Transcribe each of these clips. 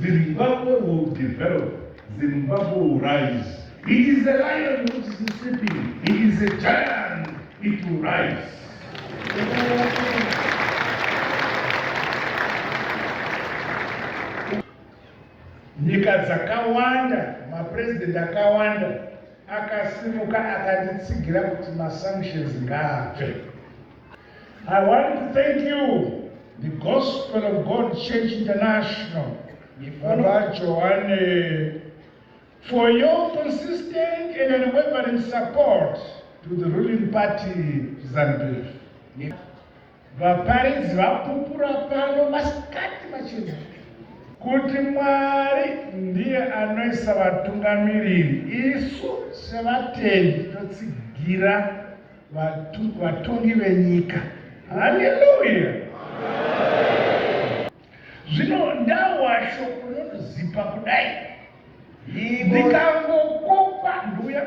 Zimbabwe will develop. Zimbabwe will rise. He is a lion which is sleeping. He is a giant. It will rise. Nyika dzakawanda, mapresident akawanda akasimuka akanditsigira kuti masanctions ngaabve. I want to thank you, the Gospel of God Church International, Baba Joanne, for your consistent and unwavering support to the ruling party, ZANPF. vaparidzi vapupura pano masikati machena kuti mwari ndiye anoisa vatungamiriri isu sevatendi totsigira vatongi venyika. Haleluya! Zvino ndawasho unozipa kudai ndikangokopa nduya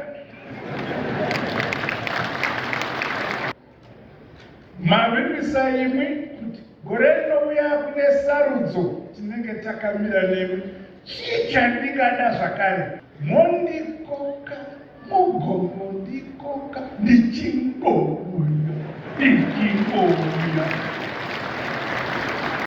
mavimbisa imwi kuti gore rinouya kune sarudzo tinenge takamira nemwi chii chandingada zvakare mondikoka Mugomo ndikoka ndichingouya ndichingouya.